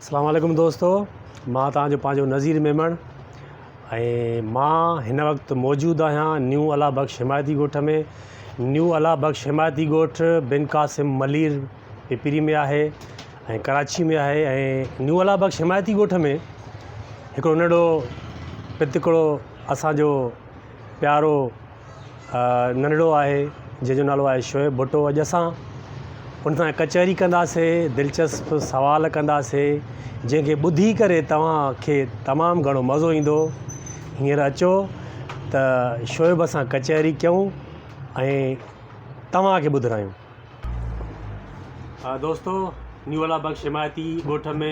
اسلام عليڪم دوستو مان توهان جو پنهنجو نظير ميمڻ ۽ مان هن وقت موجود آهيان نيو الله بخش حمايتي ڳوٺ ۾ نيو الله بخش حمايتي ڳوٺ بن قاسم ملير پپري ۾ آهي ۽ ڪراچي ۾ آهي ۽ نيو الله بخش حمايتي ڳوٺ ۾ هڪڙو ننڍڙو پتڪڙو اسانجو پيارو ننڍڙو آهي جنهن جو نالو آهي شعيب ڀٽو اڄ اسان ان سان ڪچهري ڪنداسي دلچسپ سوال ڪنداسي جنهن کي ٻڌي ڪري توهان کي تمام گهڻو مزو ايندو هينئر اچو ته شعيب سان ڪچهري ڪيون ۽ توهان کي ٻڌرايون دوستو نيولا بخش حمايتي ڳوٺ ۾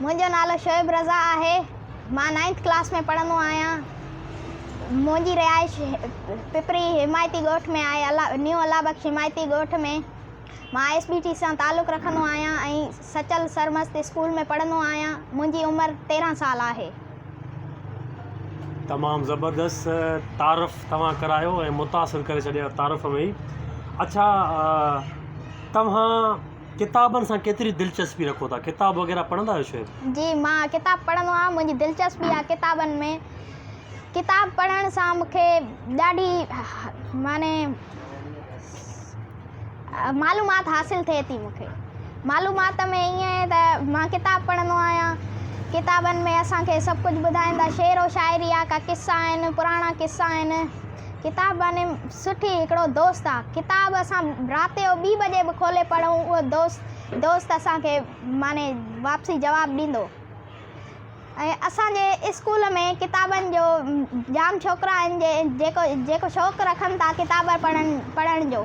منهنجو نالو شعيب رضا آهي. مان نائنٿ ڪلاس ۾ پڙهندو آهيان. منهنجي رهائش پپري حمايتي ڳوٺ ۾ آهي، نيو الله بخش حمايتي ڳوٺ ۾. مان آء ايس بي ٽي سان تعلق رکندو آهيان ۽ سچل سرمست اسڪول ۾ پڙهندو آهيان. منهنجي عمر تيرهن سال آهي. تمام زبردست تعارف توهان ڪرايو ۽ متاثر ڪري ڇڏيا تعارف ۾ ئي اڇا توهان ڪتابن سان ڪيتري دلچسپي رکو ٿا ڪتاب وغيره پڙهندا آهيو شعيب؟ جي مان ڪتاب پڙهندو آهيان منهنجي دلچسپي آهي ڪتابن ۾ ڪتاب پڙهڻ سان مون کي ڏاڍي معنيٰ معلومات حاصل ٿئي ٿي مون کي معلومات ۾ ائين آهي ته مان ڪتاب پڙهندو آهيان ڪتابن ۾ اسان کي سڀ ڪجهه ٻڌائين ٿا شعر و شاعري آهي ڪا قصا آهن پراڻا قصا آهن ڪتاب يعني سٺي هڪڙو دوست آ ڪتاب اسان رات جو ٻي بجي به کولي پڙهون اهو دوست دوست اسان کي معني واپسي جواب ڏيندو ۽ اسان جي اسڪول ۾ ڪتابن جو جام ڇوڪرا آهن جي جيڪو جيڪو شوق رکن ٿا ڪتاب پڙهن پڙهڻ جو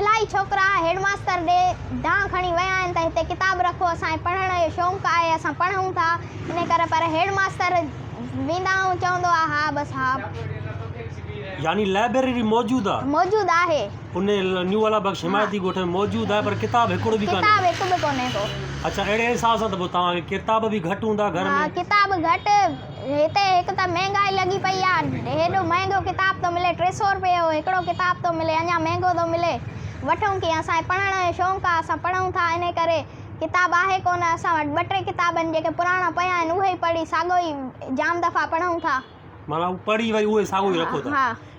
الائي ڇوڪرا هيڊ ماستر ڏي دانهن کڻي ويا آهن ته هتي ڪتاب رکو اسان کي پڙهڻ جو شونق آهي اسان پڙهون ٿا ان ڪري پر هيڊ ماستر ويندا آهون چوندو آهي ها بس ها. يعني لائبريري موجود آ. موجود آهي. ان نيو والا بخش حمايتي ڳوٺ ۾ موجود آهي پر ڪتاب هڪڙو به ڪانهي. ڪتاب هڪ به ڪونهي ڪو. اڇا اهڙي حساب سان ته پوء توهان کي ڪتاب به گهٽ هوندا گهر ۾. ها ڪتاب گهٽ. هتي هڪ ته مهنگائي لڳي پئي آ هيڏو مهنگو ڪتاب ٿو ملي ٽي سئو روپيه جو هڪڙو ڪتاب ٿو ملي اڃان مهنگو ٿو ملي وٺون ڪيئن اسان کي پڙهڻ جو شونق آ اسان پڙهون ٿا انهي ڪري ڪتاب آهي ڪو نه اسان وٽ ٻه ٽي ڪتاب آهن جيڪي پراڻا پيا آهن اهي ئي پڙهي ساڳو ئي جام دفعا پڙهون ٿا معنيٰ هو پڙهي وري اهو ئي ساڳو ئي رکو ٿا ها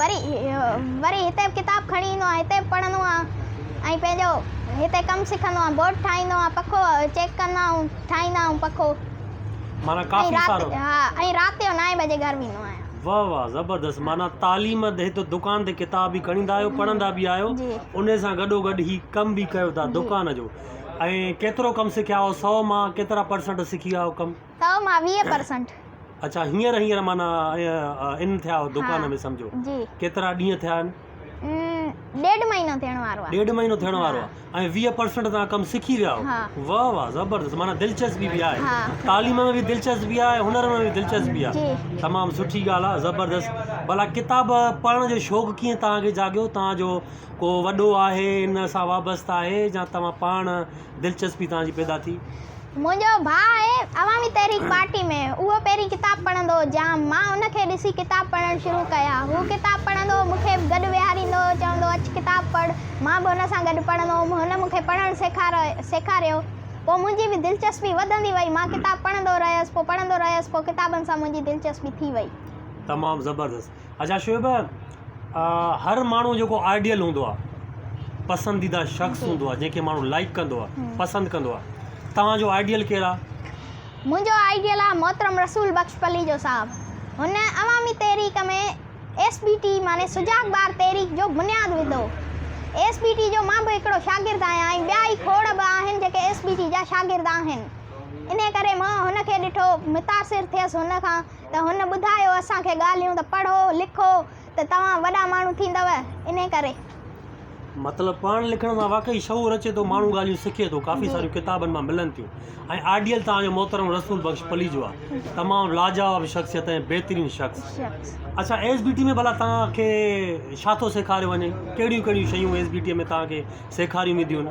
وري وري هتي به ڪتاب کڻي ايندو آهيان هتي به پڙهندو آهيان ۽ پنهنجو هتي ڪم سکندو آهيان بورڊ ٺاهيندو آهيان پکو چيڪ ڪندا آهيون ٺاهيندا آهيون پکو معنيٰ ڪافي ۽ سارو رات ها ۽ رات جو نائين بجي گهر ويندو آهيان واھ واھ زبردست معنيٰ تعليم هت دڪان تي ڪتاب به کڻيندا آهيو پڙهندا به آهيو جي انهي سان گڏو گڏ هي ڪم به ڪيو ٿا جي دڪان جو ۽ ڪيترو ڪم سکيا آهيو سو مان ڪيترا پرسنٽ سکي ويا آهيو ڪم تو مان ويهه پرسنٽ. اڇا هينئر هينئر معنيٰ ان ٿيا آهو دڪان ۾ سمجهو ڪيترا ڏينهن ٿيا آهن؟ ڏيڍ مهينو ٿيڻ وارو آهي. ڏيڍ مهينو ٿيڻ وارو آهي ۽ ويهه پرسنٽ توهان ڪم سکي ويا آهو واهه واهه زبردست معنيٰ دلچسپي به آهي تعليم ۾ به دلچسپي آهي هنر ۾ به دلچسپي آهي تمام سٺي ڳالهه آهي زبردست ڀلا ڪتاب پڙهڻ جو شوق ڪيئن توهان کي جاڳيو توهان جو ڪو وڏو آهي ان سان وابسته آهي يا توهان پاڻ دلچسپي توهان جي پيدا ٿي. منهنجو ڀاء آهي عوامي تحريڪ پارٽي ۾ اهو پهرين ڪتاب پڙهندو هو جام مان ان کي ڏسي ڪتاب پڙهڻ شروع ڪيا هو ڪتاب پڙهندو هو مون کي به گڏ ويهاريندو هو چوندو اچ ڪتاب پڙهه مان به هن سان گڏ پڙهندو هوم هن مون کي پڙهڻ سيکاريو پوء منهنجي به دلچسپي وڌندي وئي مان ڪتاب پڙهندو رهيس پوء پڙهندو رهيس پوء ڪتابن سان منهنجي دلچسپي ٿي وئي. تمام زبردست. اچھا شعيب هر ماڻهو جيڪو آئيڊيل هوندو آ پسنديده شخص هوندو آ جنهن کي ماڻهو لائڪ ڪندو آ پسند ڪندو آ توهان جو آئيڊيل ڪير آ؟ منهنجو آئيڊيل آ محترم رسول بخش پليجو صاحب هن عوامي تحريڪ ۾ ايس بي ٽي معني سجاڳ ٻار تحريڪ جو بنياد وڌو ايس بي ٽي جو مان به هڪڙو شاگرد آهيان ۽ ٻيا ئي کوڙ به آهن جيڪي ايس بي ٽي جا شاگرد آهن انهي ڪري مان هن کي ڏٺو متاثر ٿيس هن کان ته هن ٻڌايو اسان کي ڳالهيون ته پڙهو لکو ته توهان وڏا ماڻهو ٿيندؤ انهي ڪري. مطلب پاڻ لکڻ سان واقعي شعور اچي ٿو ماڻهو ڳالهيون سکي ٿو ڪافي ساريون ڪتابن مان ملن ٿيون ۽ آڊيل توهان جو محترم رسول بخش پليجو آ تمام لاجواب شخصيت ۽ بهترين شخص اڇا ايس بي ٽي ۾ ڀلا توهان کي ڇا ٿو سيکاريو وڃي ڪهڙيون ڪهڙيون شيون ايس بي ٽي ۾ توهان کي سيکاريون وينديون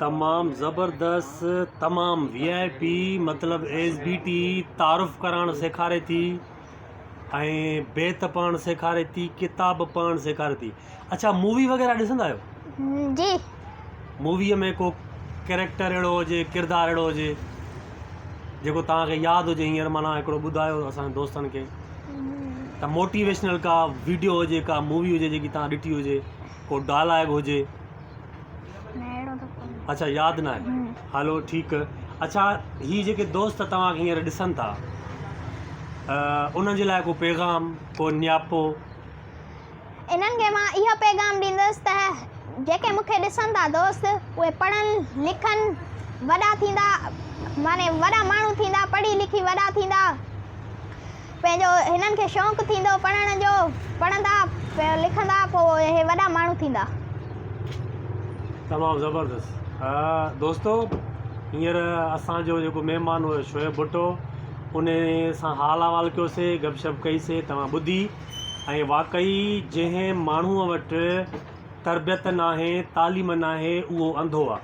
تمام زبردست تمام وي آء پي مطلب ايس بي ٽي تعارف ڪرائڻ سيکاري ٿي ۽ بيت پڙهڻ سيکاري ٿي ڪتاب پڙهڻ سيکاري ٿي اڇا مووي وغيره ڏسندا آهيو جي مووي ۾ ڪو ڪيريڪٽر اهڙو هجي ڪردار اهڙو هجي جيڪو توهانکي ياد هجي هينئر معنيٰ هڪڙو ٻڌايو اسان دوستن کي ته موٽيويشنل ڪا ويڊيو هجي ڪا مووي هجي جيڪي توهان ڏٺي هجي ڪو ڊائلاگ هجي اڇا ياد ناهي هلو ٺيڪ اڇا هي جيڪي دوست توهان کي هينئر ڏسن ٿا انهن جي لاء ڪو پيغام ڪو نياپو انهن کي مان اهو پيغام ڏيندس ته جيڪي مون کي ڏسن ٿا دوست اهي پڙهن لکن وڏا ٿيندا معنی وڏا ماڻهو ٿيندا پڙهي لکي وڏا ٿيندا پنهنجو هنن کي شوق ٿيندو پڙهڻ جو پڙهندا لکندا پو اهي وڏا ماڻهو ٿيندا. تمام زبردست دوستو هينئر اسان جو جيڪو مهمان هو شعيب ڀٽو ان سان حال احوال ڪيو سي گپ شپ ڪئي سي توهان ٻڌي ۽ واقعي جنهن ماڻهو وٽ تربيت ناهي تعليم ناهي اهو انڌو آ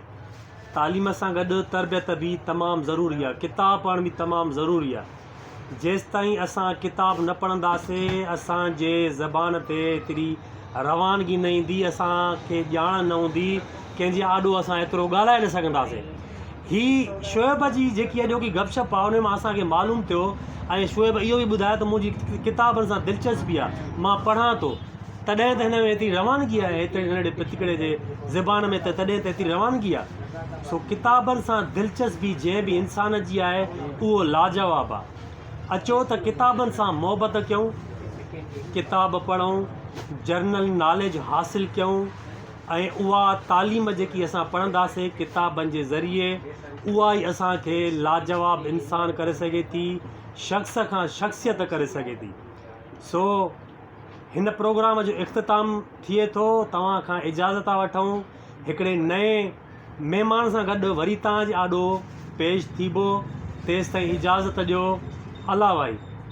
تعليم سان گڏ تربيت به تمام ضروري آ ڪتاب پڙهڻ به تمام ضروري آ جيستائين اسان ڪتاب نه پڙهنداسي اسان جي زبان تي ايتري روانگي نه ايندي اسان کي ڄاڻ نه هوندي ڪنهن جي آڏو اسان ايترو ڳالهائي نه سگهنداسي هي شعيب جي جيڪي اڄوڪي گپ شپ آهي ان مان اسان کي معلوم ٿيو ۽ شعيب اهو به ٻڌايو ته منهنجي ڪتابن سان دلچسپي آهي مان پڙهان ٿو تڏهن ته هن ۾ ايتري روانگي آهي هتڙي ننڍڙي پتڪڙي جي زبان ۾ ته تڏهن ته ايتري روانگي آهي سو ڪتابن سان دلچسبي جنهن به انسان جي آهي اهو لاجواب آ. اچو ته ڪتابن سان محبت ڪيون، ڪتاب پڙهون، جرنل ناليج حاصل ڪيون ۽ اها تعليم جيڪي اسان پڙهنداسين ڪتابن جي ذريعي اها ئي اسان کي لاجواب انسان ڪري سگهي ٿي، شخص کان شخصيت ڪري سگهي ٿي. سو هن پروگرام جو اختتام ٿئي ٿو، توهان کان اجازت ٿا وٺون. هڪڙي نئين مهمان سان گڏ وري تان جي آڏو پيش ٿيبو، تيستائين اجازت ڏيو. الاوائي!